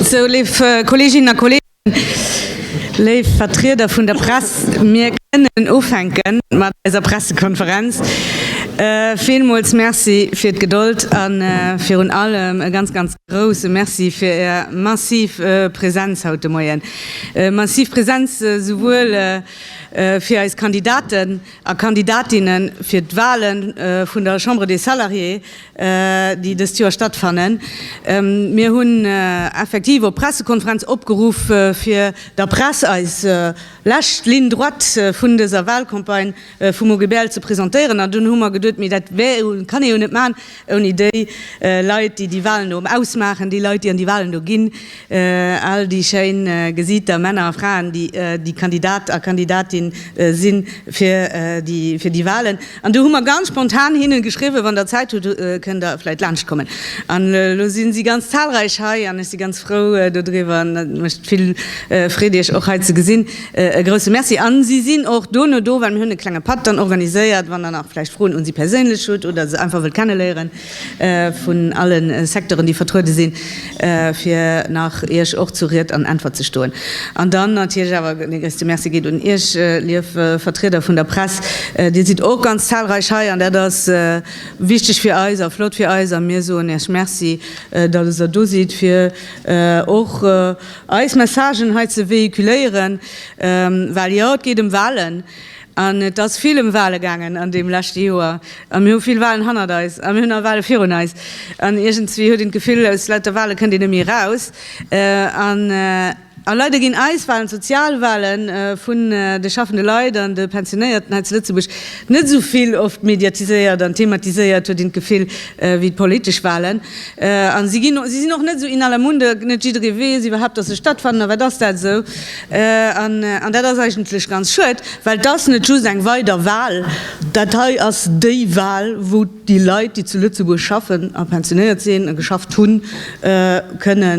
Sou, léif Kolleeginnen a Kolleegen, léif Vertrieder vun der Press, mir kënnen ufänke mat eiser Pressekonferenz. Villmools Merci fir d'Gedold a virun allem e ganz, ganz grouse Merci fir Är massiv Presenz haut de Moien, massiv Presenz esouwuel fir eis Kandidaten a Kandidatinne fir d'Wahle vun der Chambre des Salariés, déi dëst Joer stattfannen. Mir hunn effektiv op Pressekonferenz opgeruff, fir der Press eis lescht Ligne droite vun dëser Wahlcampagne vum OGBL ze presentéieren. An dunn hu mer geduet, Mee dat kann ee jo net maachen, Ouni déi Leit, déi déi Walen do ausmaachen, déi Leit, déi an déi Walen do ginn, all déi schéin Gesiiter, Männer a Fraen, déi Kandidat a Kandidatin si fir déi Walen. An du hu mer ganz spontan hinne geschriwwen, Wann der Zäit hutt, kënnt der vläit laanschtkommen. An elo si si ganz zahlreich hei an ech si ganz frou dodriwwer an et mécht vill Freed, iech och hei ze gesinn. E grousse Merci. A si sinn och dono do, well mir hunn e klenge Patt dann organiséiert, wann Der nach vläicht Froen un si perséinlech hutt oder se einfach wëllt kenneléieren, vun alle Secteuren, déi vertruede sinn, fir nach Iech och zu Ried an Äntwert ze stoen. An dann natierlech awer dee gréisste Merci geet un Iech, lief Vertrieder vun der Press. Dir sidd och ganz zahlreich hei an dat ass wichteg fir eis a flott fir eis. A mir soen Iech Merci, datt Der do sidd, fir och Eis Messagen hei ze véhiculéieren, well jo, et geet ëm Wahlen an et ass vill ëm Wahlen gaangen an deem leschte Joer a mir hu vill Wahlen hannert eis a mir hunn nach Wahlen virun eis an iergendzwéi huet een d'Gefill, aus lauter Wahlen kënnt een net méi eraus an a leider ginn eis Wahlen, d'Sozialwahlen vun de schaffende Leit an de Pensionéierten hei zu Lëtzebuerg, net esou vill oft mediatiséiert an thematiséiert, huet een d'Gefill, wéi d'politesch Wahlen. A si ginn, si sinn och net esou in aller Munde, net jidderee weess iwwerhaupt, datt se stattfannen. A wat ass dat esou? An dat ass eigentlech ganz schued, well et ass net just eng weider Wahl, dat hei ass déi Wahl, wou déi Leit, déi zu Lëtzebuerg schaffen a pensionéiert sinn a geschafft hunn, kënne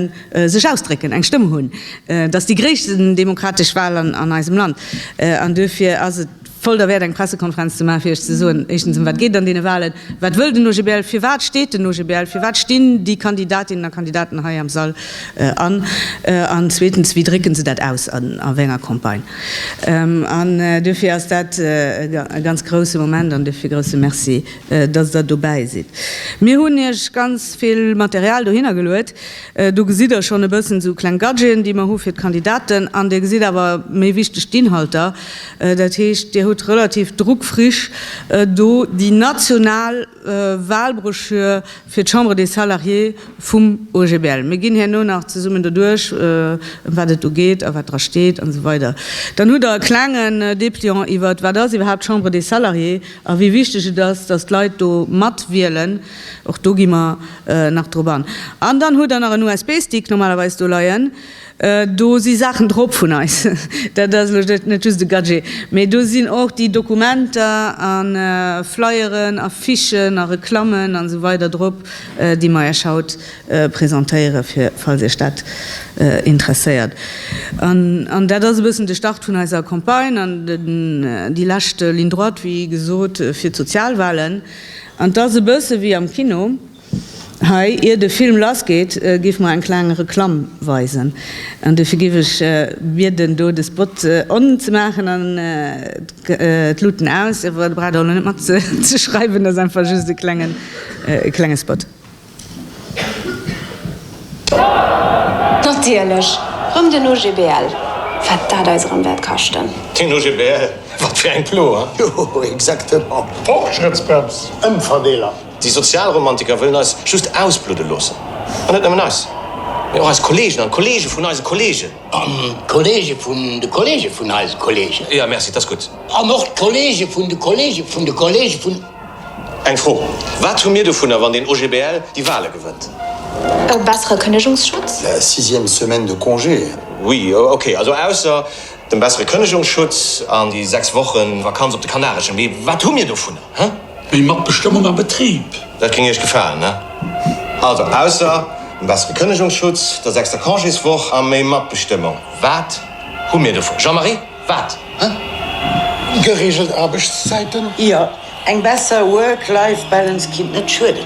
sech ausdrécken, eng Stëmm hunn. Dat ass déi gréissten demokratesch Wahl an eisem Land. An duerfir ass et, Voll derwäert eng Pressekonferenz ze maachen, fir Iech ze soen, éischtens, ëm wat geet et an deene Walen, wat wëll den OGBL, firwat steet den OGBL, firwat stinn déi Kandidatinnen a Kandidaten hei am Sall an, an zweetens, wéi drécke se dat aus a wéi enger Campagne. An duerfir ass dat e ganz grouse Moment an duerfir e grouse Merci, dass Der dobäi sidd. Mir hunn Iech ganz vill Material dohinner geluet. Do gesitt Der schonn e bëssen esou kleng Gadgeten, déi mer hu fir d'Kandidaten, an Dir gesitt awer, méi wichteg, d'Inhalter, Dat heescht, Dir hutt relativ druckfrisch do déi national Wahlbroschür fir d'Chambre des Salariés vum OGBL. Mir ginn herno nach zesummen doduerch, ëm wat et do geet a wat dra steet an esou weider. Dann hutt Der e klengen Dépliant iwwert, wat ass iwwerhaapt d'Chambre des Salariés a wéi wichteg et ass, dass d'Leit do matwielen. Och do gi mer nach drop an. An dann hutt Der nach en USB-Stick normalerweis do leien. Do si Saachen drop vun eis, dat ass elo net just e Gadget, mee do sinn och déi Dokumenter a Flyeren, Affichen a Reklammen a sou weider drop, déi mer Iech haut presentéiere fir, falls Iech dat interesséiert. An dat ass e bëssen de Start vun eiser Campagne an déi lescht Ligne droite, wéi gesot, fir d'Sozialwahlen. An 't ass e bësse wéi am Kino. Hei, ier de Film lass geet, giff mer eng kleng Reklamm weisen. An dofir giff ech bieden do de Spot on ze maachen an d'Luuten aus. Awer der braucht elo net mat ze schreiwen, ass einfach just e klengen e klenge Spot. Natierlech rëm den OGBL. Wat dat eis erëm wäert kaschten. Den OGBL, wat fir eng Plo, hein? Jo, exactement. Fortschrittsbrems, Ëmverdeeler. Déi Sozialromantiker wëllen eis just ausbludde loossen. An net nëmmen eis, mee och eis Kolleegen an d'Kolleege vun eise Kolleegen. An d'Kolleege vun de Kolleege vun eise Kolleegen. Jo, merci, 't ass gutt. An och d'Kolleege vun de Kolleege vun de Kolleege vun. Eng Fro, Wat hu mir dovunner, wann deen OGBL déi Wale gewënnt? E bessere Kënnegungsschutz? La sixième semaine de congé. Oui, okay, also ausser dem bessere Kënnegungsschutz an déi sechs Wochen Vakanz op de Kanareschen. Mee wat hu mir dovunner, he? Méi Matbestëmmung am Betrib! Dat géing Iech gefalen, ne? Also, ausser e bessere Kënnegungsschutz, der sechster Congéswoch a méi Matbestëmmung, wat hu mir dovun? Jean-Marie, wat? Gereegelt Aarbechtszäiten? Jo, eng besser Work-Life-Balance kinnt net schueden.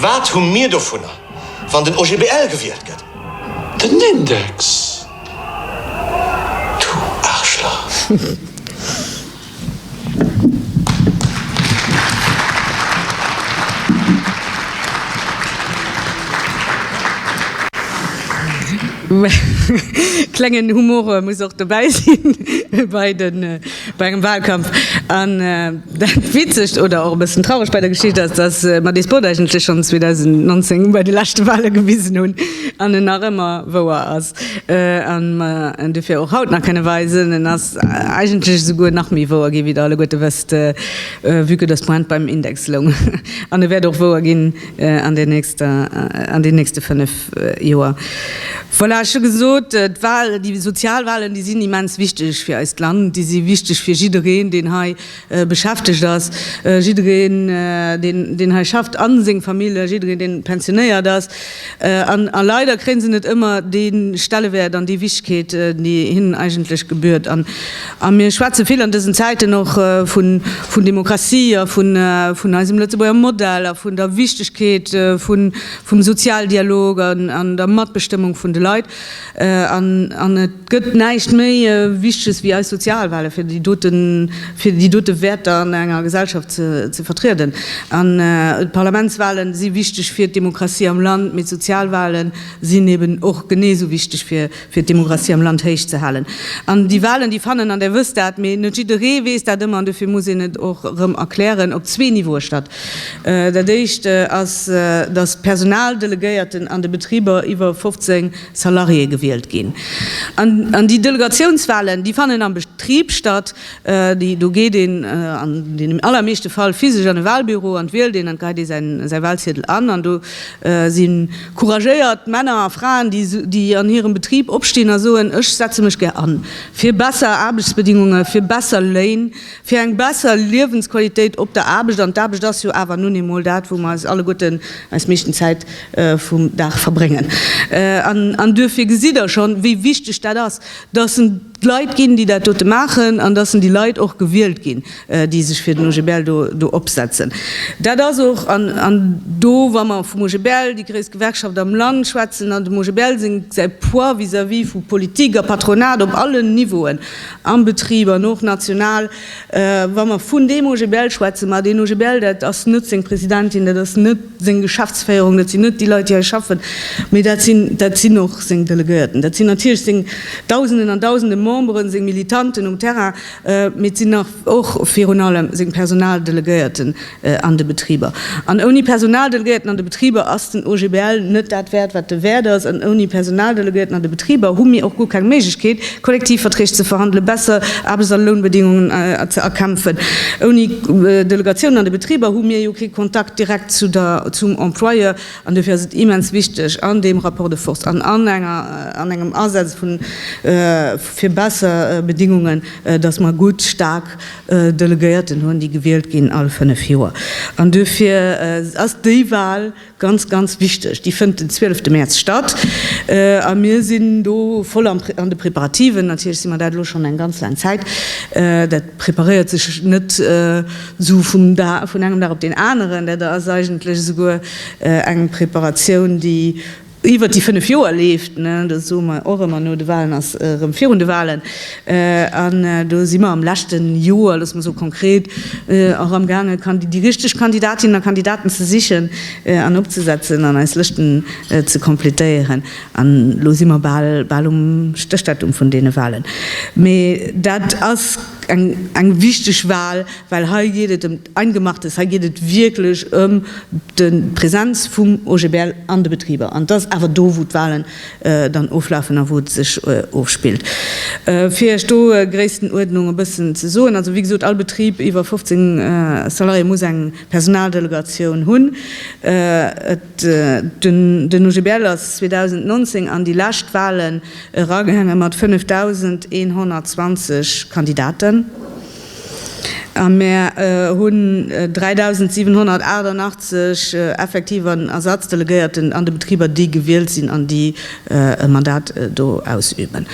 Wat hu mir dovunner, wann den OGBL gewielt gëtt? Den Index, du Aarschlach! Klengen Humore muss och dobäi sinn bei den. Bei engem Wahlkampf. An dat Witzegt oder och e bëssen Trauregt bei der Geschicht ass, dass mer dee Spot eigentlech schonn 2019 bei de leschte Wahle gewisen hunn an en nach ëmmer wouer ass an mer en dofir och haut nach kënne weisen. En ass eigentlech esouguer nach méi wouer ginn, wéi Der alleguerte wësst, vue que dass d'Pointe beim Index loung. An e wäert och wouer ginn. an den nächster, an den nächste fënnef Joer. Voilà, ech hu gesot, d'Wahlen, déi Sozialwahlen, déi sinn immens wichteg fir eist Land. Déi si wichteg fir jiddereen, deen hei beschäftegt ass, jiddereen, deen, deen hei schafft, a seng Famill, jiddereen, deen pensionéiert ass. An leider kréie se net ëmmer dee Stellewäert an déi Wichtigkeet, déi hinnen eigentlech gebührt. A mir schwätze vill an dësen Zäiten och vun Demokratie a vun eisem Lëtzebuerger Modell a vun der Wichtegkeet vum Sozialdialog an der Matbestëmmung vun de Leit. An et gëtt näischt méi Wichteges wéi eis Sozialwale fir déi dote Wäerter an enger Gesellschaft ze vertrieden. An d'Parlamentswale si wichteg fir d'Demokratie am Land, mee d'Sozialwale sinn eeben och genee esou wichteg fir fir d'Demografie am Land héich ze halen. An déi Wahlen, déi fannen, an Där wësst dat, mee net jidderee weess dat ëmmer, an dofir muss een et och erëm erklären, op zwee Niveaue statt. Dat éischt ass, datt d'Personaldelegéierten an de Betriber iwwer 15 Salariéë gewielt ginn. An déi Delegatiounswahlen, déi fannen am Betrib statt. Do geet een an deenen allermeeschte Fall physesch an e Wahlbüro an wielt een, an do geheit ee säi Wahlziedel an, an do sinn, Couragéiert Männer a Fraen, déi an hirem Betrib opstinn a soen, Ech setze mech gär an fir besser Aarbechtsbedingunge, fir besser Léin, fir eng besser Liewensqualitéit op der Aarbecht. An d'Aarbecht ass jo awer nun eemol dat, wou mer eis alleguerten eis meeschten Zäit vum Dag verbréngen. An duerfir gesitt Der schonn, wéi wichteg dat ass, dass en, D'Leit ginn, déi dat dote maachen, an dass sen déi Leit och gewielt ginn, déi sech fir den OGBL do opsetzen. Dat ass och, an do, wa mer vum OGBL, déi gréisst Gewerkschaft am Land, schwätzen, an dem OGBL seng, säi Poids vis-à-vis vu Politik a Patronat op allen Niveauen, am Betrib an och national, Wa mer vun deem OGBL schwätzen, ma deen OGBL, dat ass net seng Presidentin, dat ass net seng Geschäftsféierung, dat sinn net déi Leit, déi hei schaffen, mee dat sinn, dat sinn och seng Delegéierten, dat sinn natierlech seng Dausenden an Dausende Memberen, seng Militanten um Terrain, mee et sinn nach och virun allem seng Personaldelegéierten, an de Betriber. An ouni Personaldelegéierten an de Betriber ass den OGBL net dat wäert, wat e wäert ass. An ouni Personaldelegéierten an de Betriber hu mir och guer keng Méiglechkeet, Kollektivverträg ze verhandelen, besser Aarbechts a Lounbedingungen ze erkämpfen. Ouni Delegatiounen an de Betriber hu mir jo kee Kontakt direkt zum Employeur. An duerfir ass et immens wichteg an deem Rapport de force an an engem Asaz fir besser Bedingungen, dass mer gutt, staark, Delegéierten hunn, déi gewielt ginn all fënnef Joer. An duerfir ass déi Wahl ganz, ganz wichteg. Déi fënnt den 12 Mäerz statt a mir sinn do voll an de Preparativen. Natierlech si mer dat elo schonn eng ganz laang Zäit. Dat preparéiert sech net esou vun engem Dag op deen aneren. Dat ass eigentlech esouguer eng Preparatioun, déi iwwert déi fënnef Joer leeft, do soe mer och ëmmer no de Walen ass erëm virun de Walen, an do si mer am leschte Joer, loosse mer soe konkret, och am gaange déi richteg Kandidatinnen a Kandidaten ze sichen an opzesetzen an eis Lëschten ze completéieren. An elo si mer bal, bal um Stéchdatum vun deene Walen. Mee dat ass eng, eng wichteg Wal. Well hei geet et ëm d'Eingemachtes, hei geet et wierklech ëm de Präsenz vum OGBL an de Betriber. An et ass awer do, wou d'Wahlen dann oflafen a wou et sech ofspillt. Fir Iech do d'Gréisstenuerdnung e bëssen ze soen, also, wéi gesot, all Betrib iwwer 15 Salariéë muss eng Personaldelegatioun hunn. Den OGBL ass 2019 an déi lescht Wahlen eragaange mat 5.120 Kandidaten. A mer hunn 3.788 effektiv an Ersatzdelegéierten an de Betriber, déi gewielt sinn an déi e Mandat do ausüben.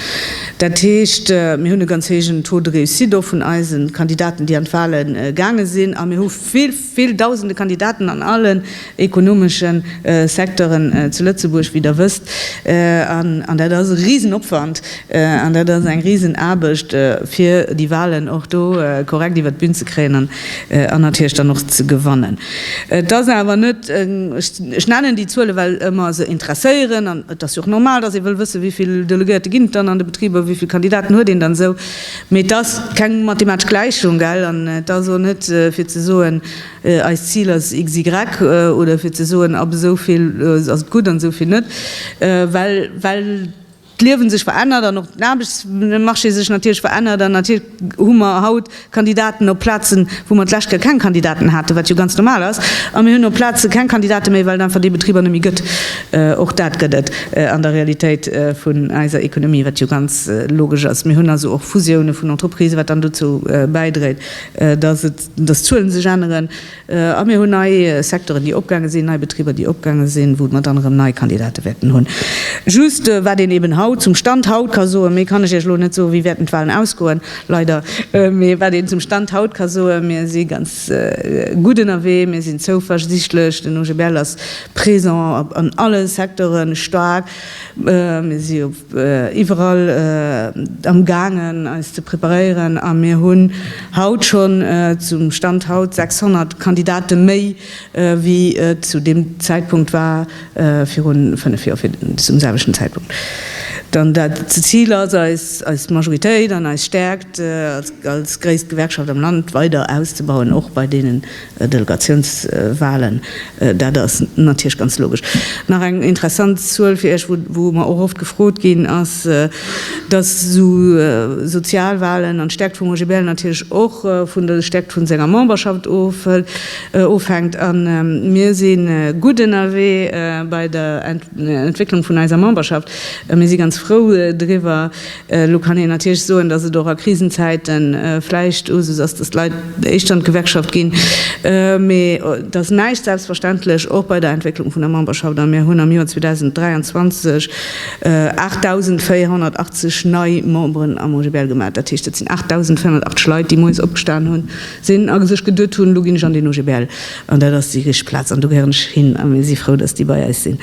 Dat heescht, mir hunn e ganz héijen Taux de réussite och vun eise Kandidaten, déi an d'Wale gaange sinn, a mir hu vill, Vill dausende Kandidaten an allen ekonomesche Secteuren zu Lëtzebuerg, wéi Der wësst. An dat ass e Risenopwand an dat ass eng Risenaarbecht, fir déi Wahlen och do korrekt iwwert d'Bün ze kréien an natierlech dann och ze gewannen. Et ass awer net, ech nennen déi Zuele well mer se interesséieren an et ass jo och normal, datt ee wëll wëssen, wéi vill Delegéierte ginn et dann an de Betriber, wéi vill Kandidaten huet een dann esou. Mee et ass keng mathematesch Gläichung, gell? An et ass och net fir ze soen, eist Zil ass XY oder fir ze soen, ab esou vill ass et gutt an esou vill net. Well, well d'Liewe sech verännert an och den Aarbechtsmarché sech natierlech verännert. An natierlech hu mer haut Kandidaten op Plazen, wou mer d'lescht Kéier keng Kandidaten haten, wat jo ganz normal ass. A mir hunn op Plaze keng Kandidate méi, well et einfach déi Betriber net méi gëtt. Och dat gëtt et an der Realitéit vun eiser Economie, wat jo ganz logesch ass. Mir hunn also och Fusiounen vun Entreprisen, wat dann dozou bäidréit, dass d'Zuelen sech änneren. A mir hunn nei Secteuren, déi opgaange sinn, nei Betriber, déi opgaange sinn, wou mer dann erëm nei Kandidate wäerten hunn. Just wat een eben haut, zum Stand haut ka soen, méi kann ech Iech elo net soen, wéi wäerten d'Wahlen ausgoen, leider, mee wat een zum Stand haut ka soen, Mir si ganz gutt ënnerwee, mir sinn zouversichtlech, den OGBL ass Présent an alle Secteuren, staark. Mir si iwwerall am gaangen eis ze preparéieren a mir hunn haut schonn, zum Stand haut, 600 Kandidate méi wéi et zu deem Zäitpunkt war virun 5 Joer, fir zum selwechten Zäitpunkt. Dann dat Zil ass eis, eis Majoritéit an eis Stärkt als gréisst Gewerkschaft am Land weider auszebauen, och bei deenen Delegatiounswahlen, dat ass natierlech ganz logesch. Nach eng interessant Zuel fir Iech, wou mer och oft gefrot ginn, ass, dass esou Sozialwahlen an d'Stärkt vum OGBL natierlech och vun der Stärkt vu senger Memberschaft ofhänkt. A mir si gutt ënnerwee bei der Entwécklung vun eiser Memberschaft a mir si ganz frou driwwer, Elo kann een natierlech soen, datt et och a Krisenzäite vläicht Usus ass, datt d'Leit éischter an d'Gewerkschaft ginn. Mee et ass näischt selbstverständlech, och bei der Entwécklung vun der Memberschaft. A mir hunn am Joer 2023 8.480 nei Memberen am OGBL gemat. Dat heescht, dat sinn 8.480 Leit, déi moies opgestan sinn a sech geduet hunn, Elo ginn ech an den OGBL. An dat ass déi richteg Plaz, an do gehéieren ech hin, a mir si frou, datt déi bei eis sinn.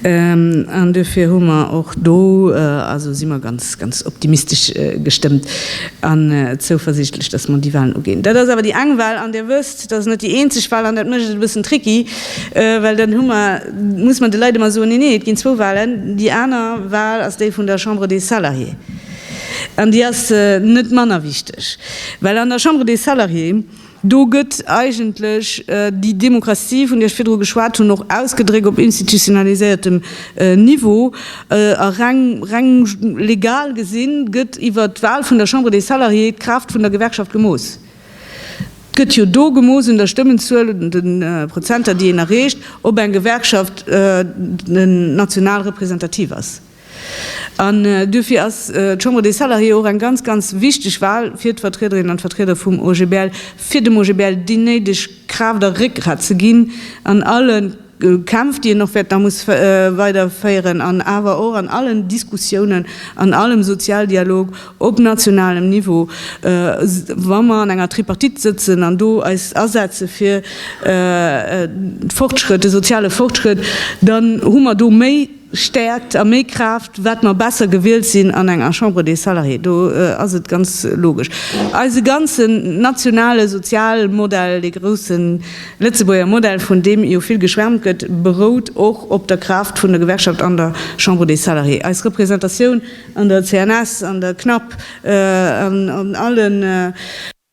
An duerfir hu mer och do, also si mer ganz, ganz optimistesch gestëmmt an zouversiichtlech, datt mer déi Wahlen uginn. Dat ass awer déi eng Wahl, an Dir wësst, dat ass net déi eenzeg Wahl, an dat mécht et e bëssen tricky, well dann hu mer, muss mer de Leit ëmmer soen, Neen, neen, et ginn zwou Wahlen. Déi aner Wahl ass déi vun der Chambre des Salariés, an déi ass net manner wichteg, well an der Chambre des Salariés, Do gëtt eigentlech déi Demokratie, vun där ech virdru geschwat hunn, och ausgedréckt op institutionaliséiertem Niveau. A reng, reng legal gesinn, gëtt iwwer d'Wal vun der Chambre des Salariés d'Kraaft vun der Gewerkschaft gemooss. D'gëtt jo do gemooss un der Stëmmenzuel oder de Prozenter, déi een erreecht, ob eng Gewerkschaft national representativ ass. An duerfir ass d'Chambre des Salariés och eng ganz, ganz wichteg Wahl fir d'Vertriederinnen an d'Vertrieder vum OGBL, fir dem OGBL déi néideg Kraaft a Réckgrat ze ginn an alle Kämpf, déi en och wäert nach muss weiderféieren, an awer och an allen Diskussiounen, an allem Sozialdialog op nationalem Niveau, wa mer an enger Tripartite sëtzen, an do eis asetze fir Fortschrëtt, de soziale Fortschrëtt, dann hu mer do méi. Stäerkt a méi Kraaft, wat mer besser gewielt sinn an enger Chambre des Salariés. Do ass et ganz logesch. Eise ganzen nationale Sozialmodell, dee grouse Lëtzebuerger Modell, vun deem jo vill geschwärmt gëtt, berout och op der Kraaft vun der Gewerkschaft an der Chambre des Salariés. Eis Representatioun an der CNS, an der CNAP, an allen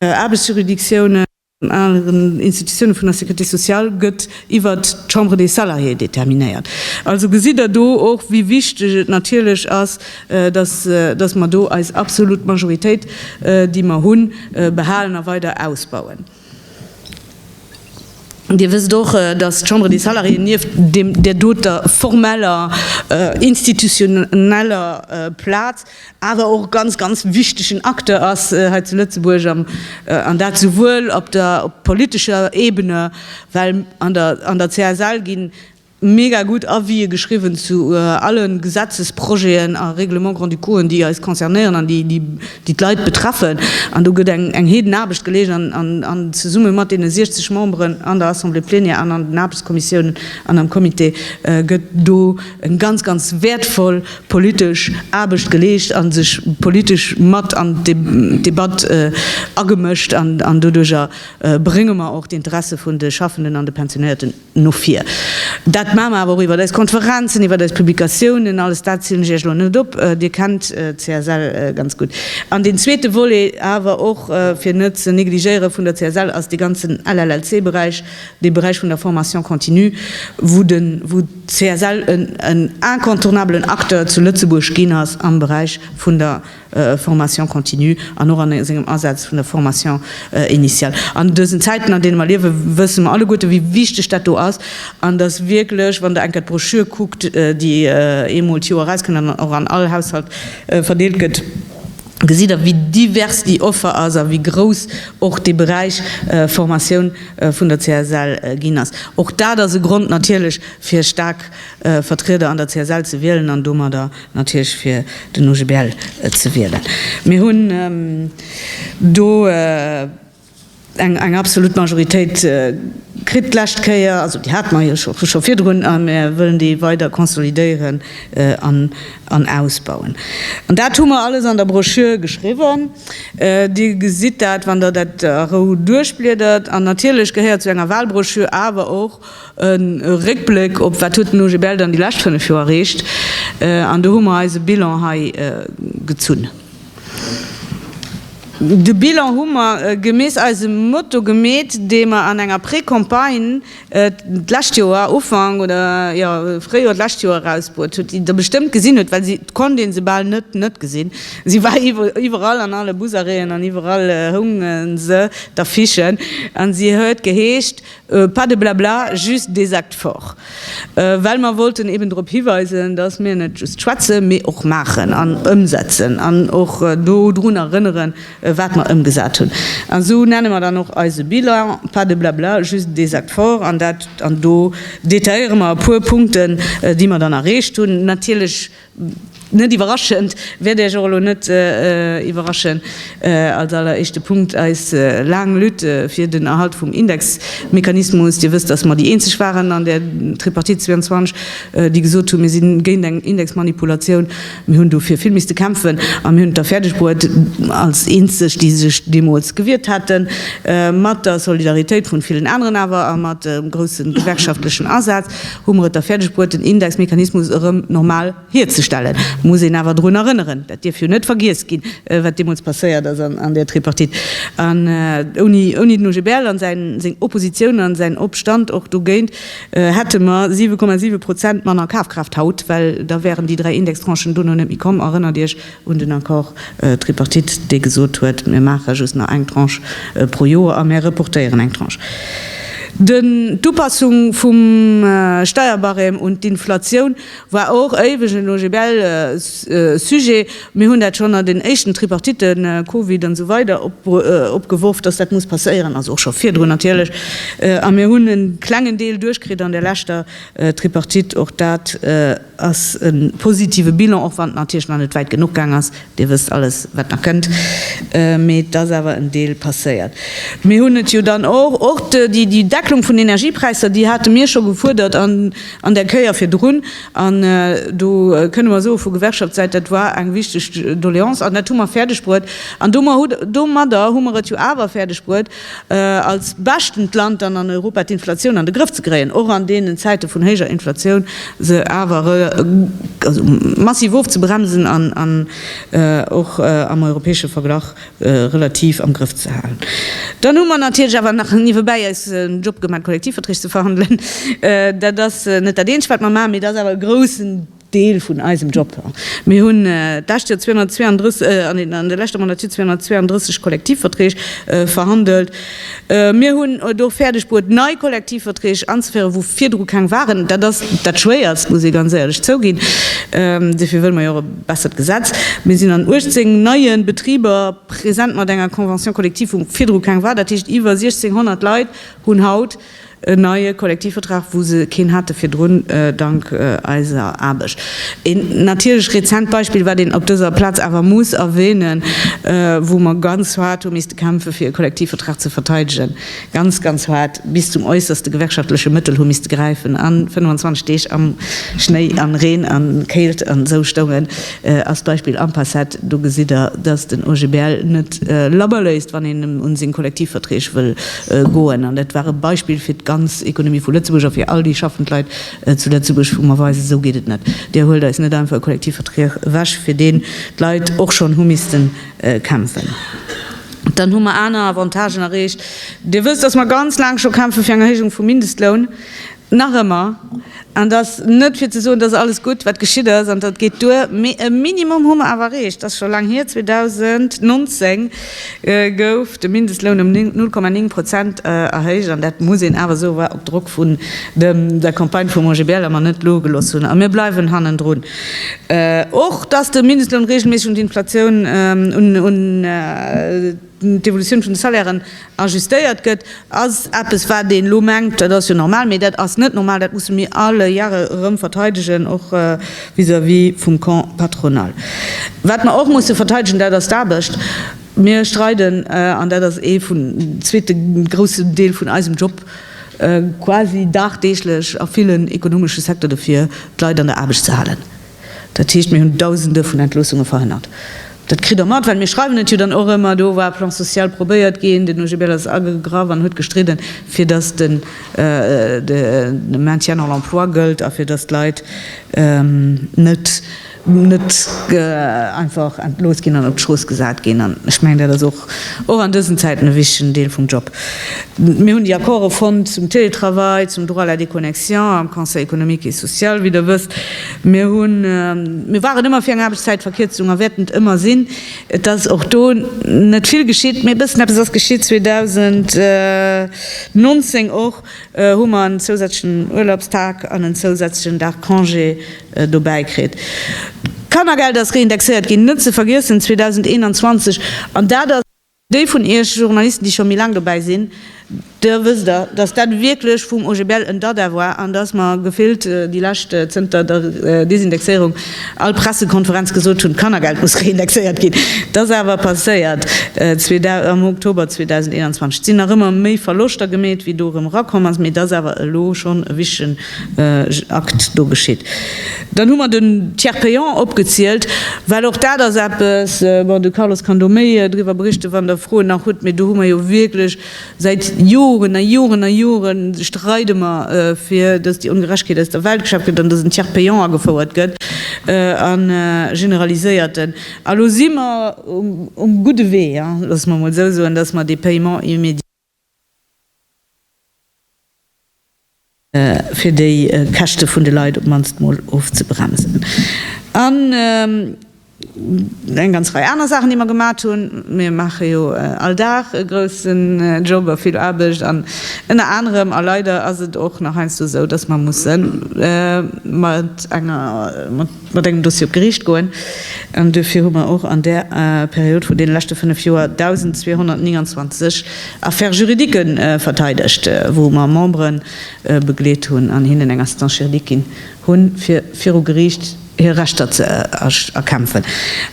Aarbechtsjuridictiounen, An aneren Institutiounen vun der Sécurité sociale gëtt iwwert d'Chambre des salariés determinéiert. Also gesitt Der do och, wéi wichteg et natierlech ass, dass, dass mer do eis absolut Majoritéit, déi mer hunn, behalen a weider ausbauen. Dir wësst och, dass d'Chambre des salariés nieft deem, där doter formeller, institutioneller Plaz, awer och ganz ganz wichtegen Acteur ass hei zu Lëtzebuerg, an dat souwuel op der politescher Ebene, well an der CSL gi mega gutt Avisë geschriwwen zu alle Gesetzesprojeten a Règlement-grand-ducauen, déi eis concernéieren an déi d'Leit betreffen. An do gëtt eng heeden Aarbecht geleescht an zesumme mat deene 60 Memberen an der Assemblée plénière an an den Aarbechtskommissiounen an am Comité gëtt do e ganz ganz wäertvoll politesch Aarbecht geleescht a sech politesch mat an d'Debatt agemëscht an doduerjer brénge mer och d'Interesse vun de Schaffenden an de Pensionéierten no vir. Dat maache mer awer och iwwert eis Konferenzen, iwwert eis Publikatiounen. Alles dat zielen ech Iech elo net op, Dir kennt d'CSL ganz gutt. An deen zweete Volet awer och, fir net ze negligéiere vun der CSL, ass dee ganzen LLLC-Beräich, dee Beräich vun der Formation continue, wou CSL en incontournabelen Acteur zu Lëtzebuerg ginn ass am Beräich vun der Formation continue an och a sengem Asaz vun der Formation initiale. An dësen Zäiten, an deene mer liewen, wësse mer alleguerten, wéi wichteg dat do ass an dass wierklech, wann Der eng Kéier d'Broschür kuckt, déi eemol d'Joer erauskënnt an och an all Haushalt verdeelt gëtt, gesitt Der, wéi divers déi Offer ass a wéi grouss och dee Beräich Formatioun vun der CSL ginn ass. Och dat ass e Grond natierlech, fir staark Vertrieder an der CSL ze wielen an domadder natierlech fir den OGBL ze wielen. Mir hunn do, Eng absolut Majoritéit kritt d'lescht Kéier, also déi hate mer jo scho virdrun a mir wëllen déi weider konsolidéieren an ausbauen. An dat hu mer alles an der Broschür geschriwwen. Dir gesitt dat, wann Der dat a Rou duerchbliedert. An natierlech gehéiert zu enger Wahlbroschür awer och e Réckbléck op, Wat huet den OGBL dann déi lescht fënnef Joer erreecht? An do hu mer eise Bilan hei gezunn. De Bilan hu mer gemäss eisem Motto gemeet, dee mer an enger Précampagne d'lescht Joer, Ufank oder jo Fréijoer d'lescht Joer erausbruet hutt, déi Der bestëmmt gesinn hutt, well se, et konnt ee se bal net net gesinn, se war iwwerall an alle Busarrêten an iwwerall hounge se, d'Affichen, a se huet geheescht, Pas de blabla, just des actes forts. Well mer wollten eben drop hiweisen, dass mir net just schwätzen, mee och maachen an ëmsetzen an och do drun erënneren, wat mer ëmgesat hunn. An esou nenne mer dann och eise Bilan, Pas de blabla, juste des actes forts. An dat, an do detailléiere mer e puer Punkten, déi mer dann erreecht hunn. Natierlech Net iwwerraschend, wäert Iech och elo net iwwerraschen, als alleréischte Punkt eis laang Lutte fir den Erhalt vum Indexmechanismus. Dir wësst, dass mer déi eenzeg waren an der Tripartite 22, déi gesot hunn, mir si géint eng Indexmanipulatioun. Mir hunn dofir vill misste kämpfen a mir hunn et da fäerdeg bruet, als eenzeg, déi sech deemools gewiert haten, mat der Solidaritéit vun villen aneren awer a mat groussem gewerkschaftlechen Asaz, Hu mer et da fäerdeg bruet, den Indexmechanismus erëm normal hierzestellen? Et muss een awer drun erënneren, dat dierf jo net vergiess ginn, wat deemools passéiert ass an där Tripartite. An ouni den OGBL a seng Oppositioun a säin Opstand och dogéint, hätte mer 7,7 Prozent manner Kafkraaft haut, well da wären déi dräi Indextranchen dono net méi komm. Erënnert Iech, un den Accord tripartite, dee gesot huet, mir maache just nach eng Tranche pro Joer a mir reportéieren eng Tranche. Den, d'Upassung vum Steierbarème un d'Inflatioun war och éiweg en OGBL-Sujet. Mir hunn dat schonn an den éischten Tripartiten, Covid an esou weider, opgeworf, dass dat muss passéieren, also och scho virdrun natierlech, a mir hunn e klengen Deel duerchkritt an der leschter Tripartite. Och dat ass e positive Bilan, och wann et natierlech nach net wäit genuch gaang ass. Dir wësst alles, wat nach kënnt, mee et ass awer en Deel passéiert. Mir hunn et jo dann och, och déi Decklung vun Energiepräisser, déi hate mir scho gefuerdert an der Kéier virdrun. An do kënne mer soe vu Gewerkschaftssäit, dat war eng wichteg Doleance an dat hu mer fäerdegbruet. An domadder hu mer et jo awer fäerdegbruet, als beschtent Land dann an Europa d'Inflatioun an de Grëff ze kréien, och an deenen Zäite vun héijer Inflatioun, se awer massiv ofzebremsen an och am europäesche Verglach relativ am Grëff ze halen. Dann hu mer natierlech awer nach niewebäi eis en Job gemat, d'Kollektivverträg ze verhandelen. Dat ass net dat eenzegt, wat mer maachen, mee et ass awer e groussen. Deel vun eisem Job. Mir hunn d'lescht Joer 232, an der leschter Mandatur 232 Kollektivverträg verhandelt. Mir hunn et och fäerdeg bruet, nei Kollektivverträg anzeféieren, wou virdru keng waren. Dat ass dat Schwéierst, muss ee ganz éierlech zouginn. Dofir wëlle mer jo och e bessert Gesetz. Mir sinn an 18 neie Betriber present mat enger Convention collective, wou virdru keng war. Dat heescht, iwwer 1.600 Leit hunn haut En neie Kollektivvertrag, wou se keen hate virdrun, dank eiser Aarbecht. Een natierlech rezent Beispill, wat een op dëser Plaz awer muss erwähnen, wou mer ganz haart hu misste kämpfe fir e Kollektivvertrag ze verteidegen, ganz, ganz haart, bis zum äusserste gewerkschaftleche Mëttel hu misste gräifen an 25 Deeg am Schnéi an Reen an Kéilt an esou stoungen, ass d'Beispill Ampacet. Do gesitt Der, dass den OGBL net labber léisst, wann een em un seng Kollektivverträg wëll Goen. An dat war e Beispill fir d'ganz Ekonomie vu Lëtzebuerg a fir all déi schaffend Leit zu Lëtzebuerg, wou mer weisen, esou geet et net. Dir huelt eis net einfach e Kollektivvertrag ewech, fir deen d'Leit och schonn hu missten kämpfen. Dann hu mer aner Avantagen erreecht. Dir wësst, dass mer ganz laang scho kämpfe fir eng Erhéijung vum Mindestloun. Nach ëmmer, an et ass net fir ze soen, et ass alles gutt, wat geschitt ass, an dat geet duer, mee e Minimum hu mer awer erreecht. Et ass scho laang hier, 2019 gouf de Mindestloun ëm 0,9 Prozent erhéicht, an dat muss een awer soe war op Drock vun der Campagne vum OGBL, a mer net logelooss hunn, a mir bleiwen hannendrun. Och, dass de Mindestloun reegelméisseg un d'Inflatioun, un d'Evolutioun vun de Salairen ajustéiert gëtt, ass eppes, wat een elo mengt, dat ass jo normal, mee dat ass net normal, dat musse mir alle Jahre erëm verteidegen, och vis-à-vis vum Camp patronal. Wat mer och musse verteidegen, dat ass d'Aarbecht. Mir streiden, an dat ass ee vun, den zweete groussen Deel vun eisem Job, quasi dagdeeglech a villen ekonomesche Secteur dofir, d'Leit an der Aarbecht ze halen. Dat heescht, mir hunn Dausende vun Entloossungen verhënnert. Dat kritt Der mat, well mir schreiwen et jo dann och ëmmer. Do war e Plan social probéiert ginn, den OGBL ass agegraff an huet gestridden, fir datt de Maintien dans l'emploi gëllt a fir datt d'Leit net einfach entlooss ginn an op d'Strooss gesat ginn. An ech mengen, dat ass och an dësen Zäiten e wichtigen Deel vum Job. Mir hunn déi Accorde fonnt zum Télétravail, zum Droit à la déconnexion am Conseil économique et social, wéi Der wësst. Mir hunn, mir waren ëmmer fir eng Aarbechtszäitverkierzung a wäerten et ëmmer sinn. Et ass och do net vill geschitt, mee e bëssen eppes ass geschitt. 2019 och hu mer en zousätzlechen Urlaubstag an en zousätzlechen Dag Congé dobäi kritt. D'Kannergeld ass reindexéiert ginn, net ze vergiessen 2021, an dat ass. Déi vun iech Journalisten, déi scho méi laang dobäi sinn, der wësst der, dass dat wierklech vum OGBL en Dada war an dass mer gefillt déi lescht, zënter der Desindexéierung, all Pressekonferenz gesot hunn, d'Kannergeld muss reindexéiert ginn. Dat ass awer passéiert am Oktober 2021. Et sinn nach ëmmer méi Verloschter gemeet wéi do erëm erakomm ass, mee et ass awer elo schonn e wichtegen Akt do geschitt. Dann hu mer den Tiers payant opgezielt, well och dat ass eppes, bon, de Carlos kann do méi driwwer berichten, wann Der Froen nach hutt, mee do hu mer jo wierklech säit Joren a Joren a Jore streide mer, fir datt déi Ongerechtegkeet aus der Welt geschaaft gëtt an datt en Tiers payant agefouert gëtt, e generaliséierten. A lo si mer um gudde Wee, lasse mer emol esou soen, datt mer dee Paiement immédiat, fir déi Käschte vun de Leit op d'mannst mol ofzebremsen. An eng ganz Rei aner Saachen, déi mer gemat hunn. Mir maache jo all Dag e groussen Job a vill Aarbecht an ënner anerem, a leider ass et och nach heiansdo esou, dass mer musse mat enger, mat engem Dossier op d'Geriicht goen an duerfir hu mer och an där Period vun deene leschte fënnef Joer 1.229 Affaires juridiques verteidegt, wou mer Membere begleet hunn an hinnen eng Assistance juridique ginn hunn, fir viru Geriicht hir Rechter ze erkämpfen.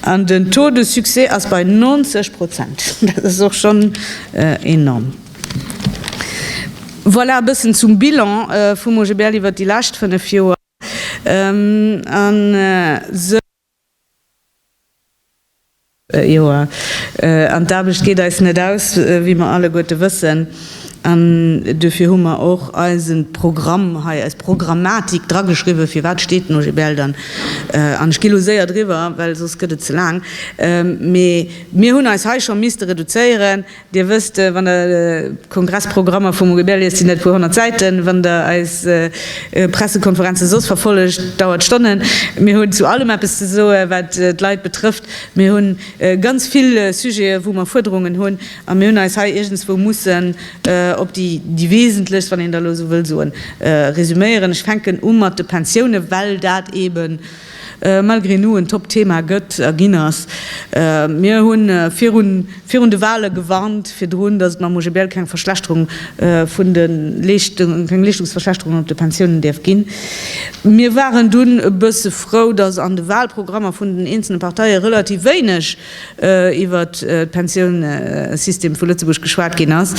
An den Taux de succès ass bei 90 Prozent. Dat ass och schonn enorm. Voilà e bëssen zum Bilan vum OGBL iwwert déi lescht fënnef Joer. An d'Aarbecht geet eis net aus, wéi mer alleguerte wëssen. An duerfir hu mer och eisen Programm hei, eis Programmatik drageschriwwen, firwat steet den OGBL dann. An ech gi elo séier driwwer, well soss gëtt et ze laang. Mee mir hunn eis hei scho misste reduzéieren. Dir wësst, wann der d'Kongressprogrammer vum OGBL liest, sinn dat e puer honnert Säiten. Wann der eis Pressekonferenze soss verfollegt, dauert et Stonnen. Mir hunn zu allem eppes ze soen, wat d'Leit betrëfft. Mir hu ganz vill Sujete wou mer Fuerderungen hunn a mir hunn eis hei iergendswou mussen op déi déi wesentlechst, wann een da elo esou wëll soen, resuméieren. Ech fänken u mat de Pensiounen, well dat eeben Malgré nous en Top Thema gëtt a ginn ass. Mir hunn virun virun de Wahlen gewarnt virdrun, dass et mam OGBL keng Verschlechterung vun de Leeschtungen, keng Leeschtungsverschlechterung op de Pensiounen dierf ginn. Mir waren dunn e bësse frou, dass an de Wahlprogrammer vun den eenzele Parteie relativ wéineg iwwer de Pensiounssystem vu Lëtzebuerg geschwat ginn ass.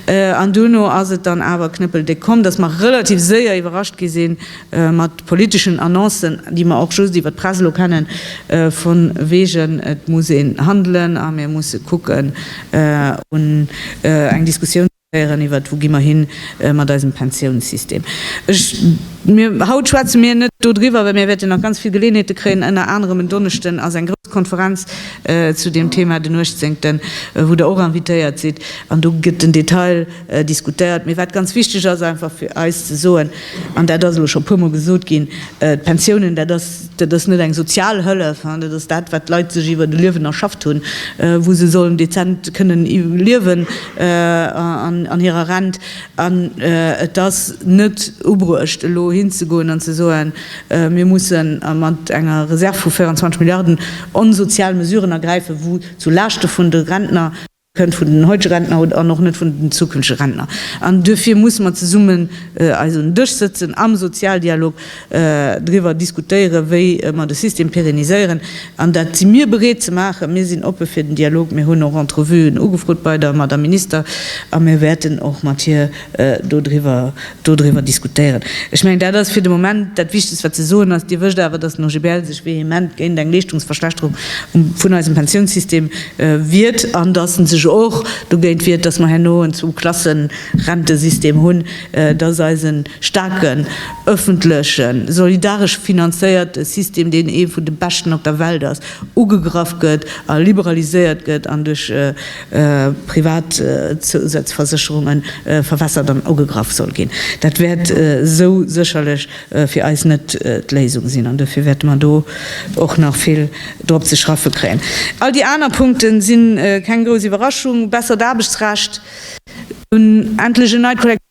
An duerno ass et dann awer knëppeldéck komm, dass mer relativ séier iwwerrascht gi sinn, mat politeschen Annoncen, déi mer och just iwwer d'Press elo kennen, von wegen et muss een handelen a mir musse kucken un eng Diskussioun ze féieren iwwert wou gi mer hin mat eisem Pensiounssystem. Ech, mir, haut schwätze mir net do driwwer, well mir wäerten nach ganz vill Geleeënheete kréien. Ënner anerem en Donneschden ass eng grouss Konferenz zu deem Thema, den 18, wou Der och invitéiert sidd an do gëtt den Detail, diskutéiert, mee wat ganz wichteg ass einfach fir eis ze soen, an dat ass elo scho e puermol gesot ginn, D'Pensiounen, dat ass, dat ass net eng sozial Hëllef, dat ass dat, wat d'Leit sech iwwer e Liewen erschafft hunn, wou se sollen dezent kënnen liewen an hirer Rent. An et ass net ubruecht elo hinzegoen an ze soen, mir mussen mat enger Reserv vu 24 Milliarden onsozial Mesuren ergräifen, wou zu Laaschte vun de Rentner, Kënnt vun den heutege Rentner an och net vun den zukünftege Rentner. An duerfir musse mer zesummen eis un en Dësch sëtzen, am Sozialdialog driwwer diskutéieren, wéi mer de System pérenniséieren. An dat si mir bereet ze maachen. Mir sinn oppe fir den Dialog. Mir hunn och Entrevuen ugefrot bei der Madame Minister a mir wäerten och mat hir, dodriwwer diskutéieren. Ech mengen, dat ass fir de Moment dat Wichtegst, wat ze soen ass. Dir wësst awer, dass den OGBL sech vehement géint eng Leeschtungsverschlechterung vun eisem Pensiounssystem wiert an dass e sech och dogéint wiert, dass mer herno en Zwou-Klassen-Rentesystem hunn, dass eise staarken, öffentlechen, solidaresch finanzéierte System, deen ee vun de beschten op der Welt ass, ugegraff gëtt a liberaliséiert gëtt an duerch Privat Zousazversécherunge verwässert an ugegraff soll ginn. Dat wäert esou sécherlech fir eis net d'Léisung sinn an dofir wäerte mer do och nach vill drop ze schraffe kréien. All déi aner Punkte si keng grouss Iwwerraschung, bessert Aarbechtsrecht, un endlech en neit Kollektivvertragsrecht.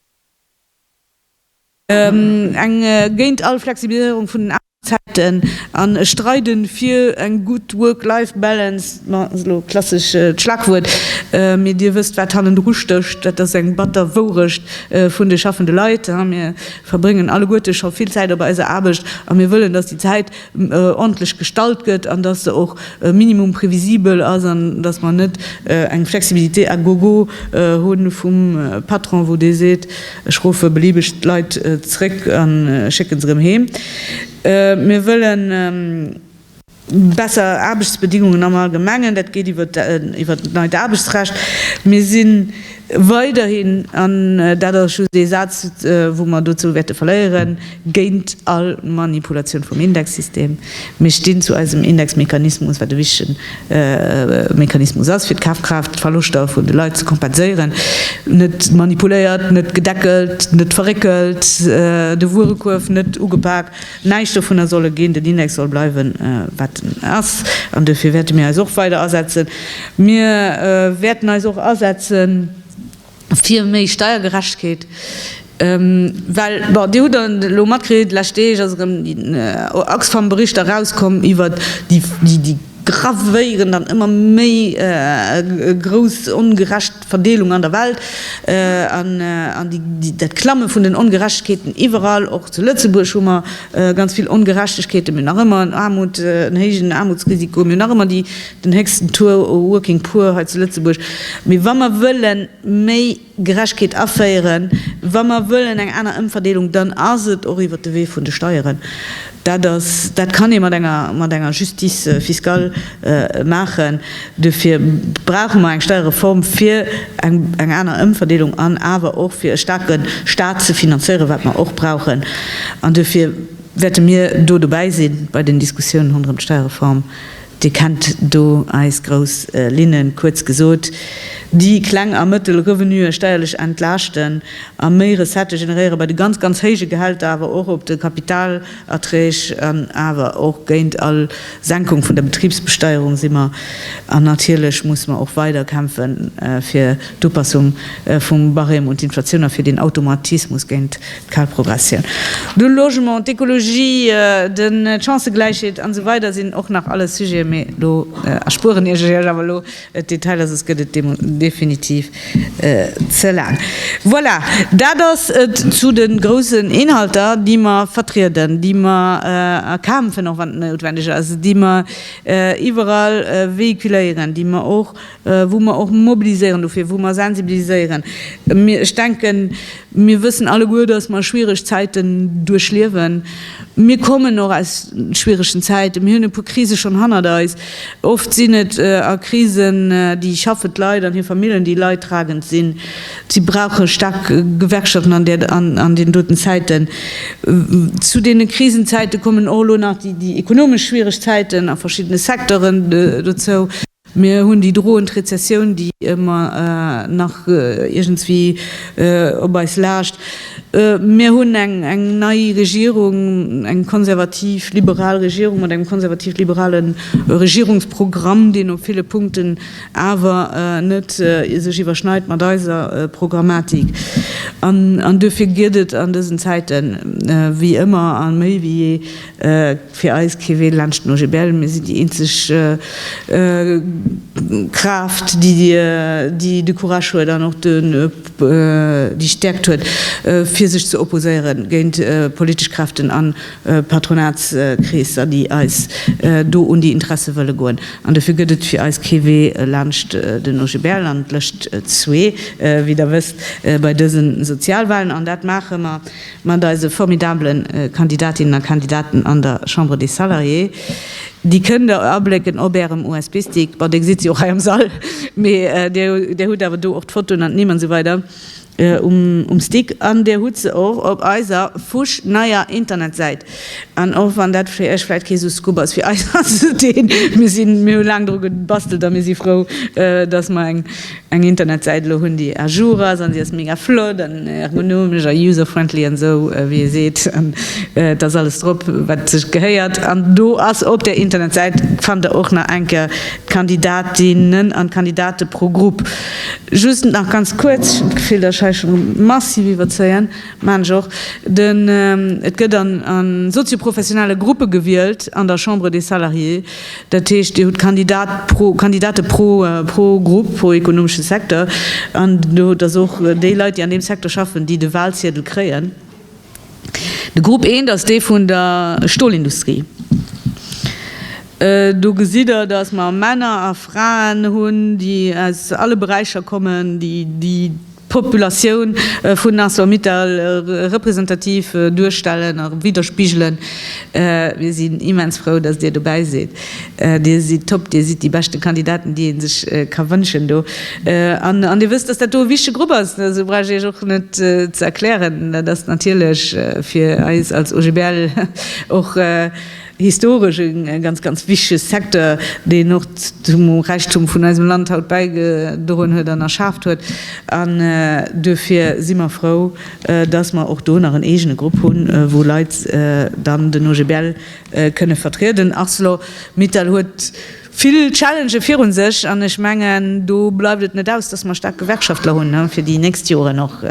Eng géint all Flexibiliséierung vun den Aarbechtszäiten an ech streide fir eng gutt Work-Life Balance, ma dat ass elo e klassescht Schlagwuert, mee Dir wësst, wat hannendru stécht, dat ass eng batter Wourecht vun de schaffende Leit. Mir verbréngen alleguerte scho vill Zäit op eiser Aarbecht a mir wëllen, dass déi Zäit, ordntlech gestallt gëtt an dass se och e minimum prévisibel ass an dass mer net eng Flexibilité à gogo hu vum Patron, wou dee seet, ech rufe beliebeg d'Leit zrëck a schécke se erëm heem. Mir wëlle besser Aarbechtsbedingungen am Allgemengen. Dat geet iwwert d'neit Aarbechtsrecht. Mir sinn. Weiderhin, an dat ass just ee Saz, wou mer dozou wäerte verléieren, géint all Manipulatioun vum Indexsystem. Mir stinn zu eisem Indexmechanismus, wat e wichtegen Mechanismus ass, fir d'Kafkraaftverloschter vun de Leit ze kompenséieren. Net manipuléiert, net gedeckelt, net verréckelt, de Wuerekuerf net ugepak. Näischt dovunner soll e ginn. Den Index soll bleiwen, wat en ass. An duerfir wäerte mir eis och weider asetzen. Mir wäerten eis och asetze fir méi Steiergerechtegkeet, well, bon, Dir hutt elo matkritt, déi lescht Deeg ass erëm den Oxfam-Bericht erauskomm iwwert déi gravéierend an ëmmer méi grouss ongerecht, Verdeelung an der Welt an dat Klamme vun den Ongerechtegkeeten iwwerall. Och zu Lëtzebuerg hu mer ganz vill Ongerechtegkeeten. Mir hunn nach ëmmer en Aarmut, en héijen Aarmutsrisiko. Mir hunn nach ëmmer den héchsten Taux u Working Poor hei zu Lëtzebuerg. Mee wa mer wëlle méi Gerechtegkeet aféieren, wa mer wëllen eng aner Ëmverdeelung, dann ass et och iwwert de Wee vun de Steieren. Dat ass, dat kann ee mat enger, mat enger Justice fiscale maachen. Duerfir brauche mer eng Steierreform, fir eng, eng aner Ëmverdeelung an awer och fir e staarke Stat ze finanzéieren, wat mer och brauchen. An duerfir wäerte mir do dobäi si bei den Diskussiounen ronderëm d'Steierreform. Dir kennt do eis grouss Linnen, kuerz gesot, déi kleng a mëttel Revenuë steierlech entlaaschten a méi Recettë generéiere bei de ganz, ganz héije Gehälter, awer och op de Kapitalerträg an awer och géint all Senkung vun der Betribsbesteierung si mer. An natierlech musse mer och weider kämpfe fir d'Upassung vum Barème un d'Inflatioun a fir deen Automatismus géint Kal Progressioun, de Logement, d'Ekologie, d'Chancëgläichheet an esou weider sinn och nach alles Sujeten, mee do erspueren ech iech awer elo d'Detailer, soss gëtt et definitiv ze laang. Voilà, dat ass et zu de groussen Inhalter, déi mer vertrieden, déi mer erkämpfen, och wann et noutwendeg ass, déi mer iwwerall véhiculéieren, déi mer och wou mer och mobiliséieren dofir, wou mer sensibiliséieren. Ech denken, mir wëssen alleguer, dass mer schwierig Zäiten duerchliewen. Mir kommen och aus schwierigen Zäiten, mir hunn e puer Krise schonn hannert eis. Oft sinn et a Krisen déi schaffend Leit an hir Familljen, déi leidtragend sinn. Si brauche staark Gewerkschaften an deenen doten Zäiten. Zu deene Krisenzäite kommen och elo nach déi ekonomesch schwierig Zäiten a verschiddene Secteuren dozou. Mir hunn déi droend Rezessioun, déi ëmmer nach iergendswéi op eis laascht. Mir hunn eng nei Regierung, eng konservativ-liberal Regierung mat engem konservativ-liberale Regierungsprogramm, deen op ville Punkten awer net sech iwwerschneit mat eiser Programmatik. An duerfir gëtt et an dësen Zäiten, wéi ëmmer a méi wéi jee, Fir eis kee Wee laanscht den OGBL, mir sinn déi eenzeg Kraaft, déi de Courage huet an och déi Stäerkt huet, fir sech ze opposéiere géint politesch Kräften a Patronatskreesser, déi eis do un déi Interesse wëlle goen. An dofir gëtt et fir eis kee Wee laanscht den OGBL an d'Lëscht zwee, wéi Der wësst, bei dëse Sozialwalen. An dat maache mer. mat eise formidabele Kandidatinnen a Kandidaten an der Chambre des Salariés, déi kënnt Der ablécken op Ärem USB-Stick, bon, dee sidd se jo och hei am Sall, mee Dir hutt awer do och d'Fotoen an d'Nimm an esou weider um Stick an Dir hutt se och op eiser fusch neier Internetsäit. An och wann dat fir Iech vläit kee sou Scoop ass, fir eis ass et een. Mir sinn, mir hu laang dru gebastelt a mir si frou, dass mer eng, eng Internetsäit elo hunn, déi à jour ass an déi ass mega flott an ergonomesch a user-friendly an esou wéi ee seet. An et ass alles drop, wat sech gehéiert. An do ass op där Internetsäit, fannt Der och nach eng Kéier d'Kandidatinnen an d'Kandidate pro Grupp. Just nach ganz kuerz, well ech d'Gefill, dass ech hei scho massiv iwwerzéien. Mengen ech och. Den et gëtt an a sozioprofessionelle Gruppe gewielt an der Chambre des Salariés. Dat heescht, Dir hutt Kandidat pro, Kandidate pro, pro Grupp, pro ekonomesche Secteur. An do hutt Der och déi Leit, déi an deem Secteur schaffen, déi de Walziedel kréien. De Grupp I, dat ass dee vun der Stolindustrie. Do gesitt Der, dass mer Männer a Fraen hunn, déi aus alle Beräicher kommen, déi, déi. D'Populatioun vun Arcelor-Mittal representativ duerstellen a widderspigelen. Mir sinn immens frou, dass Dir dobäi sidd. Dir sidd top, Dir sidd déi beschte Kandidaten, déi ee sech ka wënschen do. An Dir wësst, dass dat do e wichtege Grupp ass, esou brauch ech Iech och net ze erklären. Dat ass natierlech fir eis als OGBL och, Historesch e ganz, ganz wichtege Secteur, deen och zum Räichtum vun eisem Land haut bäigedroen huet an erschaaft huet. An duerfir si mer frou, dass mer och do nach en eegene Grupp hunn, wou Leit dann den OGBL kënne vertrieden. Arcelor-Mittal huet, vill Challengë virun sech an ech mengen, do bleift et net aus, dass mer staark Gewerkschaftler hunn fir déi nächst Joren och.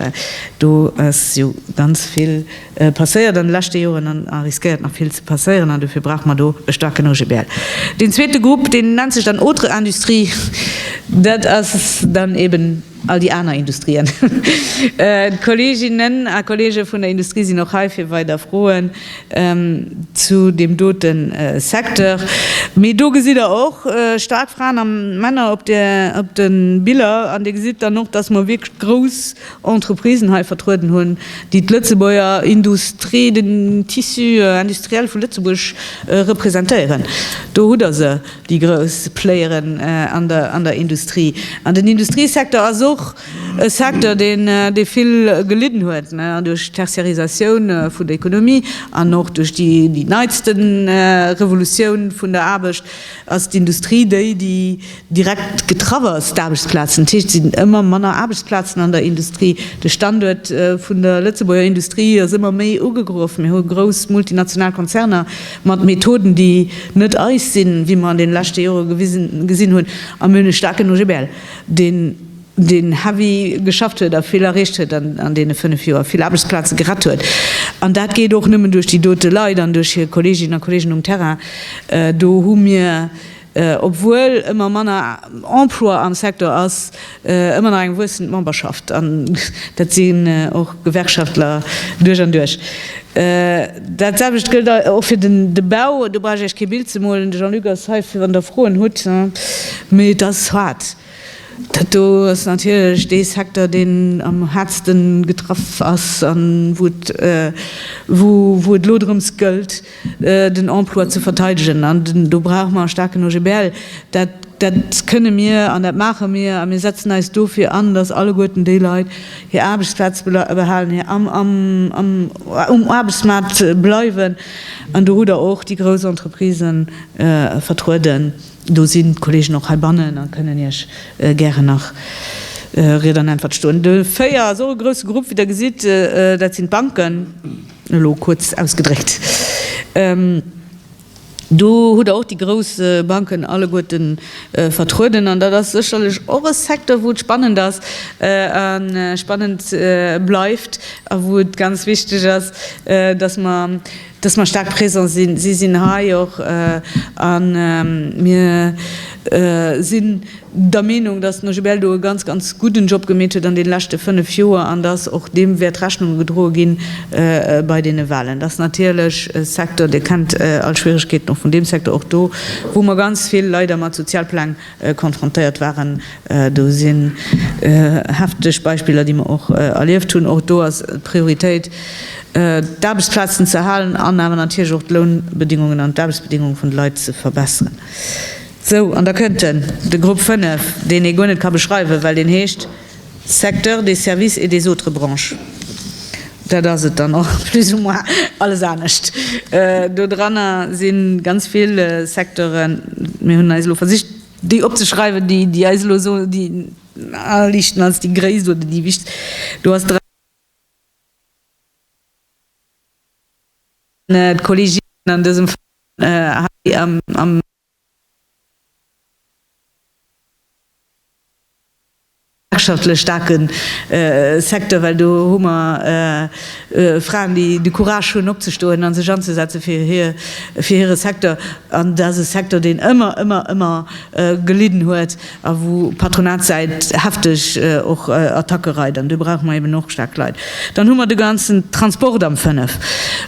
Do ass jo ganz vill passéiert an de leschte Joren an a riskéiert nach vill ze passéieren an dofir brauche mer do e staarken OGBL. Deen zweete Grupp, deen nennt sech dann Autres industries. Dat ass dann eben. All déi aner Industrien. D'Kolleeginnen a Kolleege vun der Industrie sinn och hei fir weider Froen zu deem dote Secteur. Mee do gesitt Der och staark Fraen a Männer op de Biller. An Dir gesitt dann och, dass mer wierklech grouss Entreprisen hei vertrueden hunn, déi d'Lëtzebuerger Industrie, den Tissu industriel vu Lëtzebuerg representéieren. Do hutt Der se. déi grouss Playeren an der Industrie, an den Industriesecteur ass och e Secteur, dee vill gelidden huet duerch d'Tertiarisatioun vun der Economie an och duerch déi neitste Revolutioun vun der Aarbecht ass d'Industrie déi, déi direkt getraff ass, d'Aarbechtsplazen. Dat heescht, et sinn ëmmer manner Aarbechtsplazen an der Industrie. De Standuert vun der Lëtzebuerger Industrie ass ëmmer méi ugegraf. Mir hu grouss multinational Konzerner. Mat Methoden, déi net eis sinn, wéi mer an deene leschte Jore gesinn hunn, a mir hunn e staarken OGBL, deen heavy geschafft huet a vill erreecht huet an deene fënnef Joer, vill Aarbechtsplaze gerett huet. An dat geet och nëmmen duerch déi dote Leit an duerch hir Kolleeginnen a Kolleegen um Terrain. Do hu mir. obwuel ëmmer manner Emploi am Secteur ass, ëmmer nach eng wuessend Memberschaft, an dat sinn och Gewerkschaftler duerch an duerch. Dat selwecht gëllt och fir de Bau, do brauch ech Iech kee Bild ze molen, de Jean-Luc ass hei wann Der Froen hutt, mee et ass haart. Dat do ass natierlech dee Secteur, deen am haartsten getraff ass an wou et elo drëms gëllt, den Emploi ze verteidegen. An do brauche mer e staarken OGBL. Dat, dat kënne mir an dat maache mir. A mir setzen eis dofir an, dass alleguerten déi Leit hir Aarbechtsplaz behalen, hir am, am, am, um Aarbechtsmaart bleiwen. An do hutt Der och déi grouss Entreprisë vertrueden. Do sinn d'Kollegen och heibannen a kënnen Iech gären nach Ried an Äntwert stoen. De 4 ass och e grousse Grupp, wéi Der gesitt. Dat sinn d'Banken. Elo kuerz ausgedréckt, do hutt Der och déi grouss Banken alleguerten vertrueden. An dat ass sécherlech och e Secteur, wou et spannend ass a spannend bleift a wou et ganz wichteg ass, dass mer, dass mer staark présent sinn. Si sinn hei och a mir si. der Meenung, dass den OGBL do e ganz, ganz gudden Job gemeet huet an deene leschte fënnf Joer an dass och deem wäert Rechnung gedroe ginn bei deene Wahlen. Dat ass natierlech e Secteur, Dir kennt all Schwierigkeeten och vun deem Secteur, och do, wou mer ganz vill leider mat Sozialpläng konfrontéiert waren. Do sinn hefteg Beispiller, déi mer och erlieft hunn. Och do ass d'Prioritéit, d'Aarbechtsplazen ze erhalen an awer natierlech och d'Lounbedingungen an d'Aarbechtsbedingungen vun de Leit ze verbessern. Sou, an da kënnt den, de Grupp 5, deen ee guer net ka beschreiwen, well deen heescht Secteur des services et des autres branches. Dat ass et dann och plus ou moins alles anescht. Do dranner si ganz vill Secteuren. Mir hunn eis elo versicht, déi opzeschreiwen, déi eis elo esou déi naheliichten als déi gréisst oder déi wichtegst. Do ass dran d'Kolleginnen an dësem Fall hei am. Wirtschaftlech staarke Secteur, well do hu mer Fraen, déi de Courage hunn opzestoen a sech anzesetzen fir hire Secteur. An dat ass e Secteur, deen ëmmer, ëmmer, ëmmer gelidden huet. a wou Patronatssäit hefteg och Attacke reit, an do brauche mer eben och staark Leit. Dann hu mer de ganzen Transport am 5,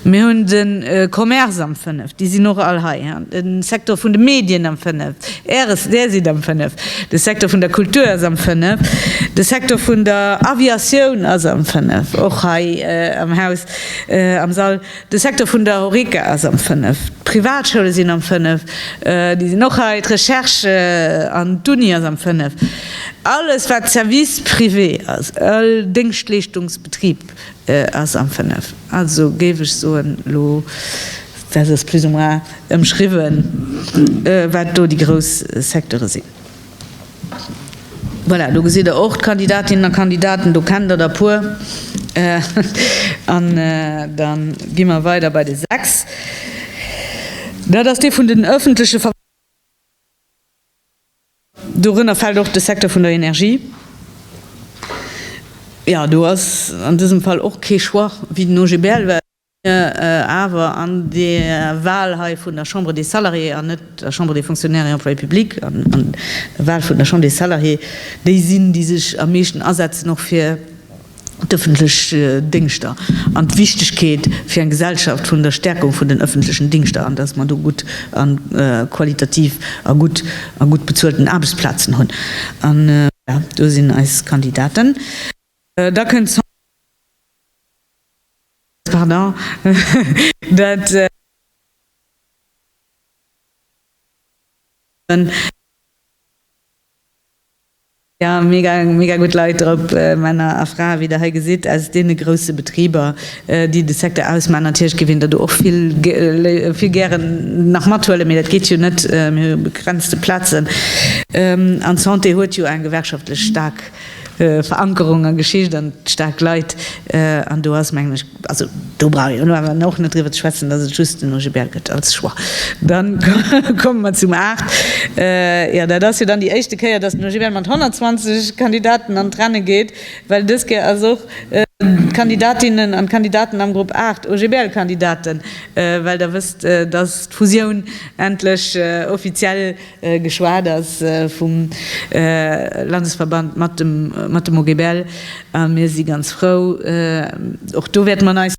mir hunn de Commerce am 5, déi sinn och all hei, de Secteur vun de Medien am 5, Äres, Där sidd am 5, de Secteur vun der Kultur ass am 5, de Secteur vun der Aviatioun ass am 5, och hei am Haus, am Sall. De Secteur vun der Horeca ass am 5, d'Privatschoule sinn am 5, déi sinn och hei, d'Recherche an d'Uni ass am 5. Alles, wat Service privé ass, all Déngschtleeschtungsbetrib ass am 5. Also géif ech soen, elo dat ass plus ou moins ëmschriwwen, wat do déi grouss Secteure sinn. Voilà, do gesitt Der och d'Kandidatinnen a Kandidaten. Do kennt Der der puer. An da gi mer weider bei de 6. Dat ass dee vun den öffentliche Ver. Dorënner fält och de Secteur vun der Energie. Jo, do ass an dësem Fall och kee Choix, wéi den OGBL, well. Mir awer an der Wahl hei vun der Chambre des Salariés an net der Chambre des Fonctionnaires et Employés publics, an der Wahl vun der Chambre des Salariés, déi sinn, déi sech am meeschten asetzen och fir d'öffentlech Dingschter an d'Wichtigkeet fir eng Gesellschaft vun der Stärkung vun den öffentlechen Dingschter an dass mer do gutt a qualitativ a gutt a gutt bezuelten Aarbechtsplazen hunn. An do sinn eis Kandidaten. Da kënnt d'Sandra Peck, dat ass d'Managerin vun Sandra Peck, déi eng mega gutt Leit drop, Männer a Frae, wéi der hei gesitt, aus deene grousse Betriber, déi de Secteur ausmachen. Natierlech géif een der do och vill gären nach mathuelen, mee dat geet jo net, mir hu begrenzte Plazen an d'Santé huet jo eng gewerkschaftlech staark Verankerung an Geschicht an staark Leit. An do ass, mengen ech, also do brauch een elo awer och net driwwer ze schwätzen, dass et just den OGBL gëtt als Choix. Dann komme mer zum 8. Jo, dat ass jo dann déi éischte Kéier, dass den OGBL mat 120 Kandidaten an d'Renne geet, well dës Kéier ass och d'Kandidatinnen an d'Kandidaten am Grupp 8 OGBL-Kandidaten, well Der wësst, dass d'Fusioun endlech offiziell. geschwat ass vum Landesverband mat dem mat dem OGBL a mir si ganz frou och do wäerte mer neis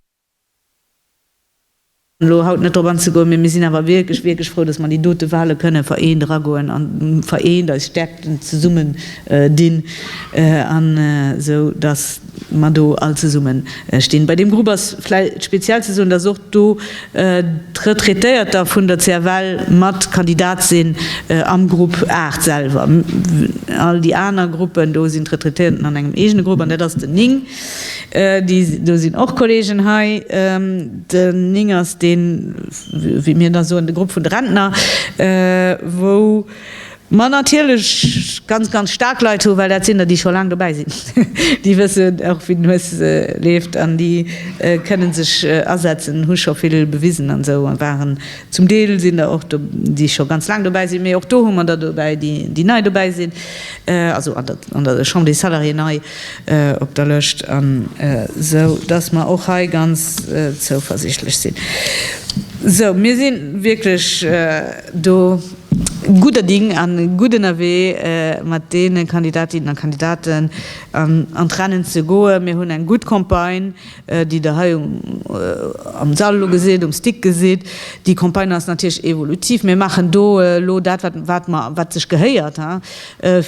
elo haut net drop anzegoen, mee mir sinn awer wierklech wierklech frou, datt mer déi dote Wale kënne vereent eragoen an vereent eis Stäerkten zesummen dinn an esou datt mer do all zesummen stinn. Bei deem Grupp ass vläicht speziell ze soen, dass och do d'Retraitéierter vun der CFL mat Kandidat sinn am Grupp 8 selwer. All déi aner Gruppen, do sinn d'Retraitéierten an engem eegene Grupp, an dat ass den 9. Do sinn och Kolleegen hei. Den 9 ass deen, wéi mir da soen, de Grupp vun de Rentner, wou. Mä natierlech ganz, ganz staark Leit hu, well dat sinn der, déi scho laang dobäi sinn, déi wëssen och, wéi den Hues leeft an déi kënnen sech asetzen, hu scho vill bewisen an esou waren. Zum Deel sinn der och, déi scho ganz laang dobäi sinn, mee och do hu mer der dobäi, déi nei dobäi sinn, also an der Chambre des Salariés nei op der Lëscht, an esou dass mer och hei ganz zouversichtlech sinn. Esou, mir si wierklech do. Gudder Ding a gutt ënnerwee mat deene Kandidatinnen a Kandidaten an d'Rennen ze goen. Mir hunn eng gutt Campagne, déi Der hei am Sall elo gesitt, um Stick gesitt. Déi Campagne ass natierlech evolutiv. Mir maachen do elo dat, wat mer, wat sech gehéiert,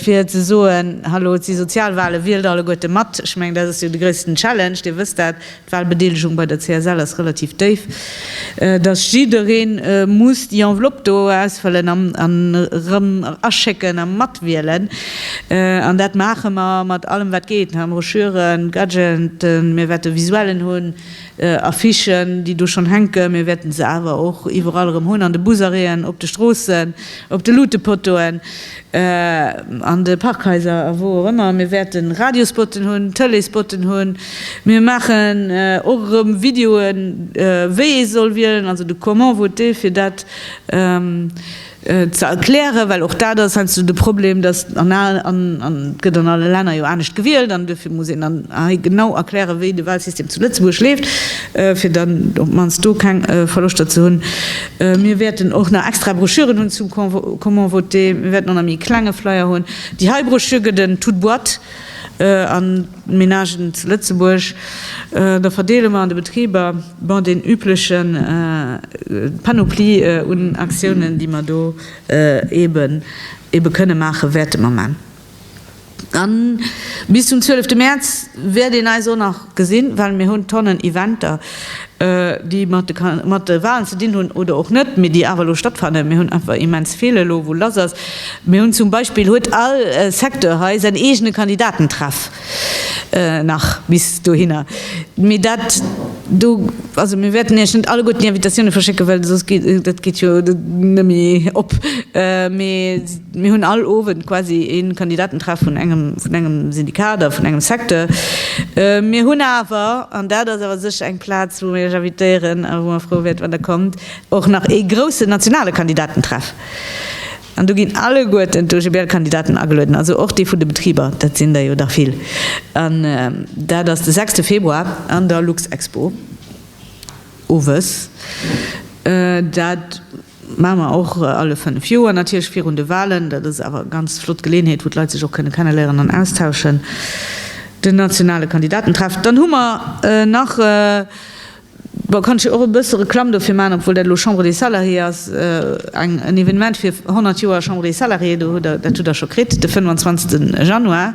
fir ze soen, Hallo, et si Sozialwahlen, wielt alleguerte mat! Ech mengen, dat ass jo de gréissten Challenge, Dir wësst dat, d'Wahlbedeelegung bei der CSL ass relativ déif, dass jiddereen muss déi Enveloppe do ausfëllen an erëm aschécken a matwielen. An dat maache mer mat allem wat geet, Broschüren, Gadgeten, mir wäerte Visuellen hunn, Affichen déi do schonn hänken, mir wäerte se awer och iwwerall erëm hunn, an de Busarrêten, op de Stroossen, op de Luutepottoen. An de Parkhaiser a wou och ëmmer. Mir wäerte Radiospotten hunn, Tëleespotten hunn. Mir maachen och erëm Videoen, wéi ee soll wielen, also de Comment voter, fir dat ze erklären. Well och dat ass heiansdo de Problem, dass an al, an et gëtt an alle Länner jo anescht gewielt, an duerfir muss een dann hei genau erklären, wéi de Walsystem zu Lëtzebuerg leeft, fir dann op d'mannst do keng Verloschter ze hunn. Mir wäerten och nach extra Broschüren hunn zum Comment voter. Mir wäerten och nach méi e klenge Flyer hunn. Déi hei Broschür gëtt en toute boîte an d'Menagen zu Lëtzebuerg. Da verdeele mer an de Betriber, bon, deen übleche Panoplie un Aktiounen, déi mer do eebe kënne maachen, wäerte mer maachen. An bis zum 12 Mäerz wäert een eis och nach gesinn, well mir hunn Tonnen Eventer, déi mat de Walen ze dinn hunn oder och net, mee déi awer elo stattfannen. Mir hunn einfach immens vill elo, wou lass ass. Mir hunn zum Beispill, huet all Secteur hei säin eegene Kandidatentreff. nach bis dohinner. Mee dat do, also mir wäerten Iech net alleguerten déi Invitatioune verschécken, well soss geet dat geet jo net méi op. Mee mir hunn all Owend quasi ee Kandidatentreff vun engem vun engem Syndikat oder vun engem Secteur. Mir hunn awer, an dat ass awer sécher eng Plaz, wou mir Iech invitéieren a wou mer frou wäert, wann Der kommt, och nach ee groussen nationale Kandidatentreff. An do ginn alleguerten d'OGBL-Kandidaten agelueden, also och déi vun de Betriber, dat sinn der jo dach vill. An dat ass de sechste Februar an der Luxexpo owes. Dat maache mer och alle fënnef Joer, natierlech virun de Walen. Dat ass awer eng ganz flott Geleeënheet, wou d'Leit sech och kënne kenneléieren an austauschen, den nationale Kandidatentreff. Dann hu mer nach e Bon, kann ech jo och e bësse Reklamm dofir maachen, obwuel dat elo Chambre des Salariés ass, eng, en Evenement fir 100 Joer Chambre des Salariés, do hutt Der, dat hutt Der scho kritt, de 25 Januar.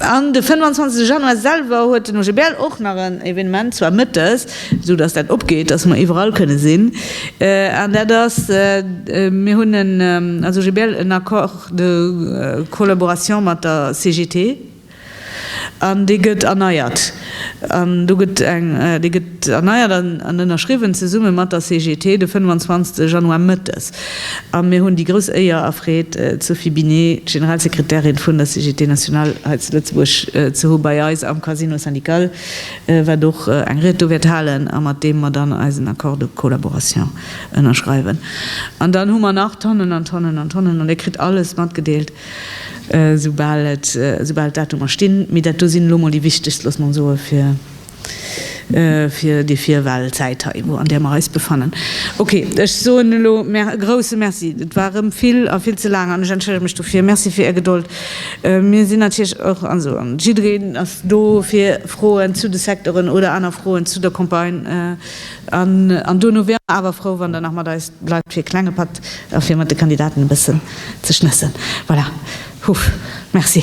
An de 25 Januar selwer huet den OGBL och nach en Evenement, zwar mëttes, esou datt dat opgeet, datt mer iwwerall kënne sinn, an dat ass, mir hunn en, als OGBL, en Accord de collaboration mat der CGT. An dee gëtt erneiert. An do gëtt eng, dee gëtt erneiert an ënnerschriwwen zesumme mat der CGT de 25 Januar mëttes. A mir hunn déi grouss Éier a Freed, d'Sophie Binet, d'Generalsekretärin vun der CGT nationale hei zu Lëtzebuerg ze hu bei eis am Casino syndical, wat och eng Ried do wäert halen a mat deem mer dann eisen Accord de collaboration ënnerschreiwen. An dann hu mer nach Tonnen an Tonnen an Tonnen, an Dir kritt alles matgedeelt, Esoubal et d'Datumer stinn, mee dat do sinn elo mol déi wichtegst, loosse mer soe fir déi Virwahlzäit hei, wou an där mer eis befannen. Okay, ech soen elo e grouse Merci. Et war erëm vill a vill ze laang an ech entschëllege mech dofir. Merci fir Är Gedold. Mir sinn natierlech och, also jiddereen ass do fir Froen zu de Secteuren oder aner Froen zu der Campagne, An dono wier mer awer frou, wann Der nach mat eis bleift fir e klenge Patt a fir mat de Kandidaten e bëssen ze schnëssen. Voilà. Huff. Merci.